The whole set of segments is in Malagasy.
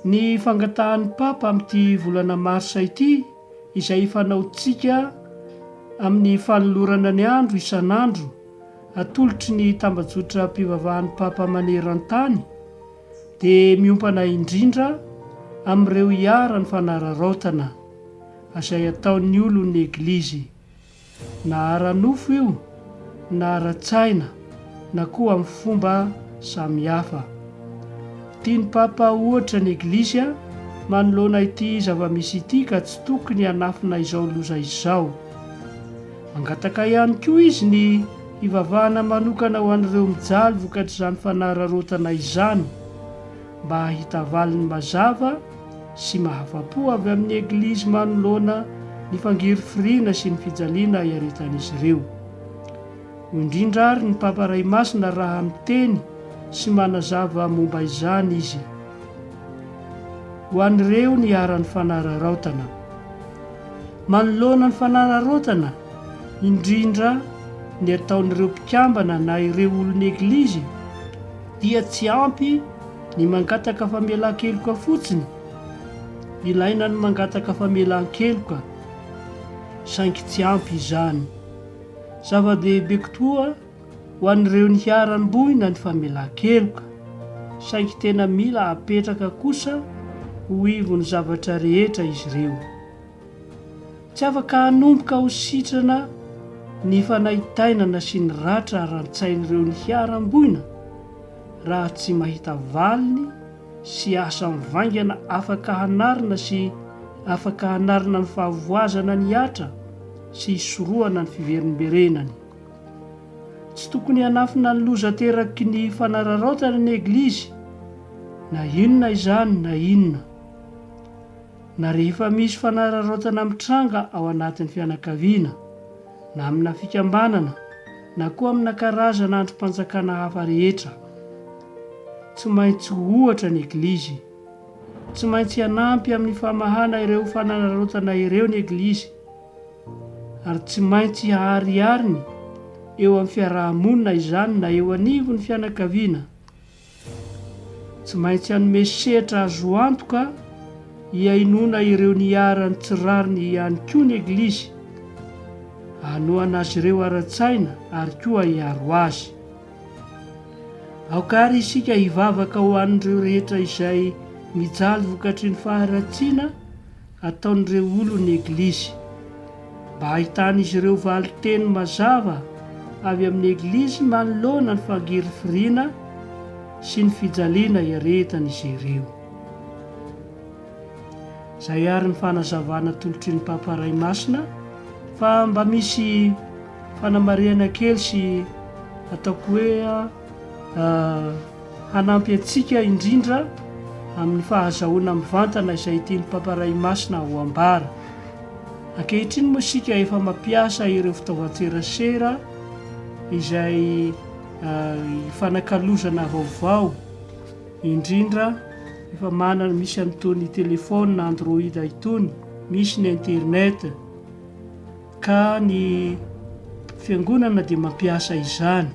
Ny fangatahan'ny Papa amin'ity volana marsa ity, izay fanaontsika amin'ny fanolorana ny andro isan'andro atolotry ny tambajotram-pivavahan'ny Papa maneran-tany, dia miompana indrindra amin'ireo iharan'ny fanararaotana izay ataon'ny olon'ny Eglizy, na ara-nofo io, na ara-tsaina, na koa amin'ny fomba samihafa. Tian'ny Papa ho ohatra ny Eglizy manoloana ity zava-misy ity ka tsy tokony hanafina izao loza izao. Mangataka ihany koa izy ny hivavahana manokana ho an'ireo mijaly vokatr'izany fanararaotana izany, mba hahita valiny mazava sy mahafa-po avy amin'ny Eglizy manoloana ny fangirifiriana sy ny fijaliana iaritan'izy ireo. Hoy indrindra ary ny Papa Ray Masina raha miteny sy manazava momba izany izy, Ho an'ireo niharan'ny fanararaotana, Manoloana ny fanararaotana, indrindra ny ataon'ireo mpikambana na ireo olon'ny Eglizy, dia tsy ampy ny mangataka famelan-keloka fotsiny. Ilaina ny mangataka famelan-keloka, saingy tsy ampy izany. Zava-dehibe koa ho an'ireo niharam-boina ny famelan-keloka, saingy tena mila apetraka kosa ho ivon'ny zavatra rehetra izy ireo. Tsy afaka hanomboka ho sitrana ny fanaintainana sy ny ratra ara-tsain'ireo niharam-boina raha tsy mahita valiny sy asa mivaingana afaka hanarina sy afaka hanarina ny fahavoazana ny Atra sy hisorohana ny fiverimberenany. Tsy tokony hanafina ny loza ateraky ny fanararaotana ny Eglizy na inona izany na inona. Na rehefa misy fanararaotana mitranga ao anatin'ny fianakaviana, na amina fikambanana, na koa amina karazana andrim-panjakana hafa rehetra. Tsy maintsy ho ohatra ny Eglizy. Tsy maintsy hanampy amin'ny famahana ireo fanararaotana ireo ny Eglizy, ary tsy maintsy haharihariny eo amin'ny fiaraha-monina izany na eo anivon'ny fianakaviana. Tsy maintsy hanome sehatra azo antoka hihainoana ireo niharan'ny tsy rariny ihany koa ny Eglizy, hanohana azy ireo ara-tsaina ary koa hiaro azy. Aoka àry isika hivavaka ho an'ireo rehetra izay mijaly vokatry ny faharatsiana ataon'ireo olon'ny Eglizy. Mba hahitan'izy ireo valin-teny mazava avy amin'ny Eglizy manoloana ny fangirifiriana sy ny fijaliana iaretan'izy ireo. Izay àry ny fanazavana atolotry ny Papa Ray Masina fa mba misy fanamarihana kely sy ataoko hoe hanampy antsika indrindra amin'ny fahazahoana mivantana izay tian'ny Papa Ray Masina ho ambara. Ankehitriny moa isika efa mampiasa ireo fitaovan-tserasera izay ifanakalozana vaovao, indrindra efa manana misy an'itony telefaonina Android itony, misy ny internet, ka ny Fiangonana dia mampiasa izany.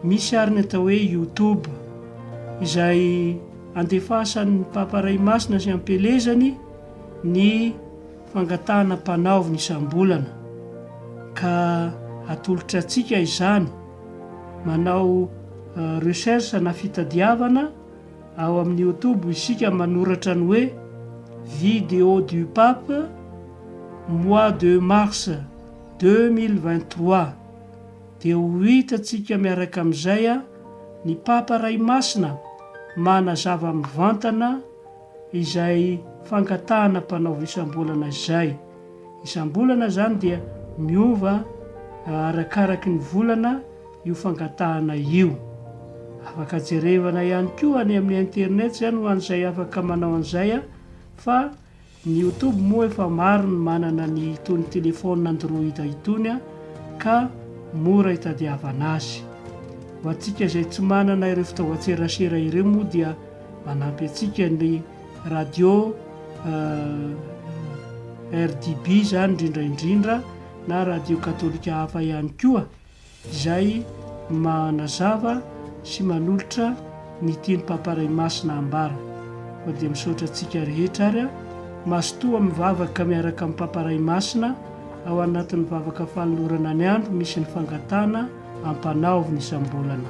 Misy àry ny atao hoe YouTube, izay andefasan'ny Papa Ray Masina sy ampelezany ny fangatahana mpanaovina isam-bolana, ka atolotra antsika izany. Manao recherche na fitadiavana ao amin'ny YouTube isika manoratra ny hoe Video du Pape, mois de mars deux mille vingt-trois. dia ho hitantsika miaraka amin'izay ny Papa Ray Masina manazava mivantana izay fangatahana mpanao isam-bolana izay. Isam-bolana izany dia miova arakaraky ny volana io fangatahana io. Afaka jerevana ihany koa any amin'ny internet izany ho an'izay afaka manao an'izay fa Ny youtube moa efa maro ny manana ny itony telephone android itony ka mora itadiavana azy. Ho antsika izay tsy manana ireo fitaovan-tserasera ireo moa dia manampy antsika ny radio RDB izany indrindra indrindra na radio katolika hafa ihany koa. izay manazava sy manolotra ny tian'i Papa Ray Masina hambara. Koa dia misaotra antsika rehetra ary aho, mazotoa mivavaka miaraka amin'i Papa Ray Masina ao anatin'ny vavaka fanolorana ny andro misy ny fangatahana ampanaovina isam-bolana.